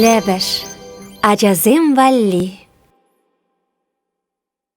Лӗпӗш ачасем валли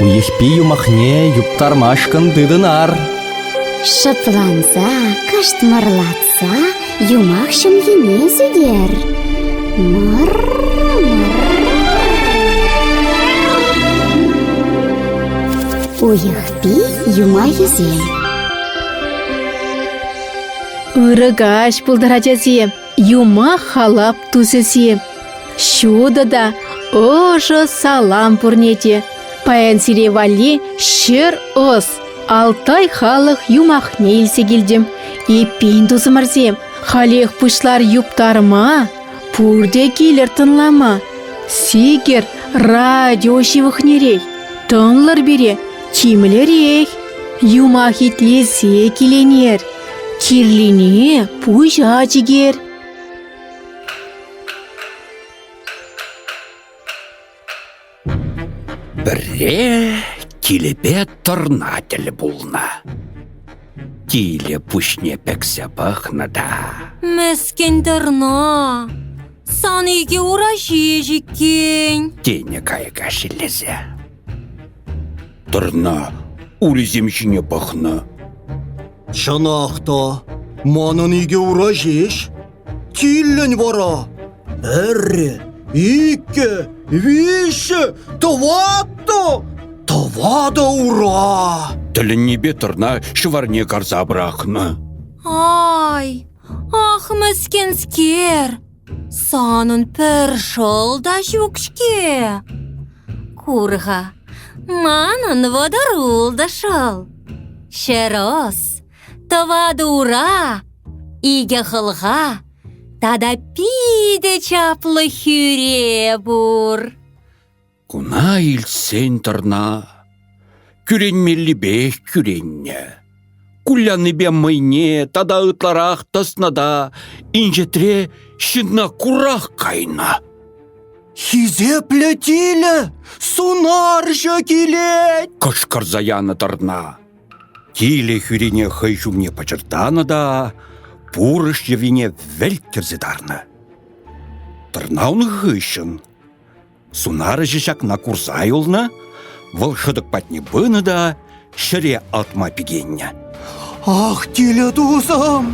Уйӑхпи юмахне юптармашкӑн тытӑнар. Шӑпланса, кӑштмӑрлатса юмах ҫӑмхине сӳтер. Мӑр, мӑр. Уйӑхпи юмахӗсем. Ырӑ каҫ пултӑр, ачасем! юмах-халап тусӗ-си. Ҫутӑ та ӑшӑ салам пурне те. Паян сире валли ҫӗр ӑс, Алтай халӑх юмахне илсе килтӗм. Эппин, тусӑмӑрсем, халех пуҫлар юптарма, пурте килӗр тӑнлама. Сикӗр радио ҫывӑхнерех, тӑнлӑр пире тимлӗрех. Юмах итлесе киленер. Кирлине пуҫа чикер. Пӗрре килӗпе тӑрна тӗл пулнӑ. Килӗ пуҫне пӗксе пӑхнӑ та. Мӗскӗн тӑрна. Сан икӗ ура ҫеҫ иккен. Тенӗ кайӑка шеллесе. Тӑрна урисем ҫине пӑхнӑ. Чӑнах та, манӑн икӗ ура ҫеҫ. Тиллӗн вара пӗрре, иккӗ, виҫҫӗ, тӑваттӑ, тӑватӑ ура. Тӗлӗннипе тӑрна ҫӑварне карса пӑрахнӑ. Ай, ах, мӗскӗнскер! Санӑн пӗр шӑл та ҫук-ҫке. Кур-ха, манӑн вӑтӑрул та шӑл. Ҫӗр ӑс, тӑватӑ ура, икӗ хӑлха тата питӗ чаплӑ хӳре пур. Куна илтсен тӑрна кӳренмеллипех кӳреннӗ. Кулянипе мӑйне тата ытларах тӑснӑ та инҫетре ҫынна курах кайнӑ. «Хисеплӗ тилӗ, сунарҫӑ килет!» кӑшкӑрса янӑ тӑрна. Тилӗ хӳрине хӑй ҫумне пӑчӑртанӑ та пурӑш йӑвине вӗлт кӗрсе тарнӑ. Тӑрна ун хыҫҫӑн Сунарҫӑ ҫакна курса юлнӑ, вӑл хӑтӑк патне пынӑ та ҫӗре алтма пикеннӗ. «Ах, тилӗ тусӑм!»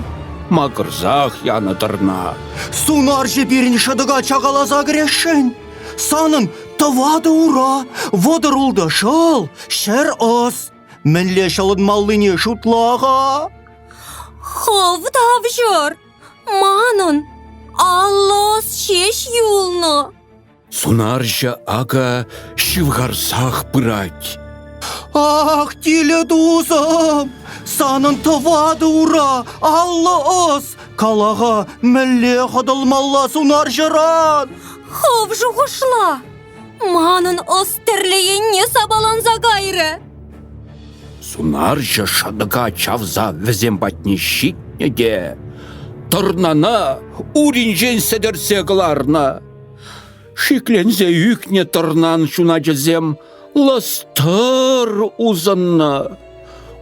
макӑрсах янӑ тӑрна. «Сунарҫӑ пирӗн шӑтӑка чакаласа кӗресшӗн. Санӑн тӑватӑ ура, вӑтӑр-ултӑ шӑл, ҫӗр ӑс. Мӗнле ҫӑлӑнмаллине шутла-ха?» «Хӑв тавҫӑр! Манӑн аллос ҫеҫ юлнӑ!» Сунарҫӑ ака ҫывхарсах пырать. Ах, тилӗ тусӑм, санӑн тӑватӑ ура аллӑ ӑс. Калаха мӗнле хӑтӑлмалла сунарҫӑран? Хав шухӑшла. Манӑн ӑс тӗрлӗ енне сапаланса кайрӗ. Сунарҫӑ шӑтӑка чавса вӗсем патне ҫитнӗ те тӑрнана уринчен сӗтӗрсе кӑларнӑ. Шикленсе ӳкнӗ тӑрнан ҫуначӗсем лӑстӑр усӑннӑ.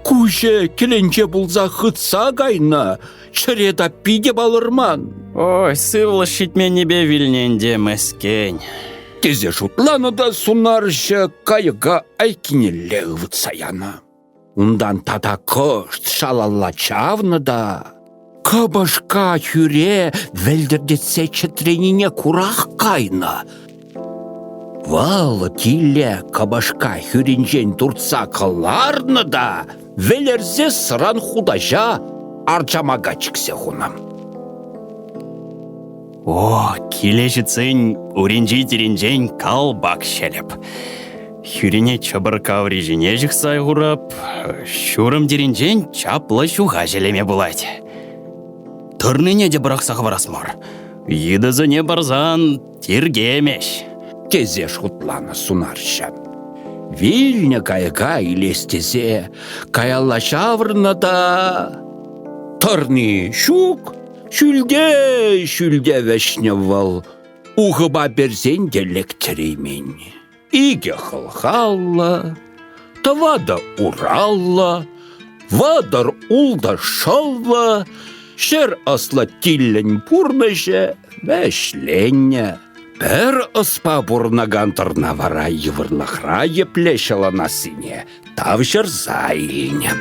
Куҫӗ кӗленче пулса хытса кайнӑ, Чӗре та питӗ палӑрман. Ой, сывлӑш ҫитменнипе вилнӗ ӗнтӗ мӗскӗн. Тесе шутланӑ та сунарҫӑ кайӑка айккинелле ывӑтса янӑ. Унтан тата кӑшт шалалла чавнӑ та кӑпӑшка хӳре вӗлтӗртетсе чӗтренине курах кайнӑ. Вӑл киле кӑпӑшка хӳринчен туртса кӑларнӑ та вӗлерсе сран хутаҫа арчамака чиксе хунӑ. О, киле ҫитсен уринчи тирӗнчен калпак ҫӗлӗп. Хӳрине чӑпӑрка аври ҫине ҫыхса хурап, ҫурӑм тирӗнчен чаплӑ ҫуха ҫӗлеме пулать. Тырнине те пӑрахса хӑварас мар. Йытӑсене парсан Тиркемӗҫ, тесе шутланӑ сунарҫӑ. Вилнӗ кайӑка илес тесе каялла ҫаврӑннӑ та... Тӑрни ҫук, ҫӳлте-ҫӳлте вӗҫнӗ вӑл. Ухӑпа персен те лектереймен. Икӗ хӑлхаллӑ, тӑватӑ ураллӑ, вӑтӑр ултӑ шӑллӑ, ҫӗр ӑслӑ-тиллӗн пурнӑҫӗ вӗҫленнӗ. Пӗр ӑспа пурӑнакан тӑрна вара йывӑрлӑхра епле ҫӑлӑнассине тавҫӑрса илнӗ.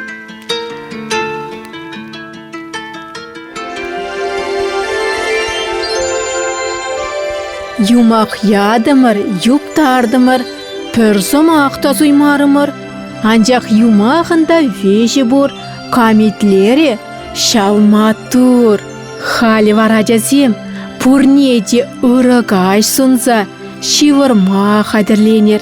Юмах ятӑмӑр, юптартӑмӑр, пӗр сӑмах та суймарӑмӑр. Анчах юмахӑн та веҫӗ пур, камитлерӗ ҫав маттур. Халь вара ачасем пурне те ырӑ каҫ сунса ҫывӑрма хатӗрленер.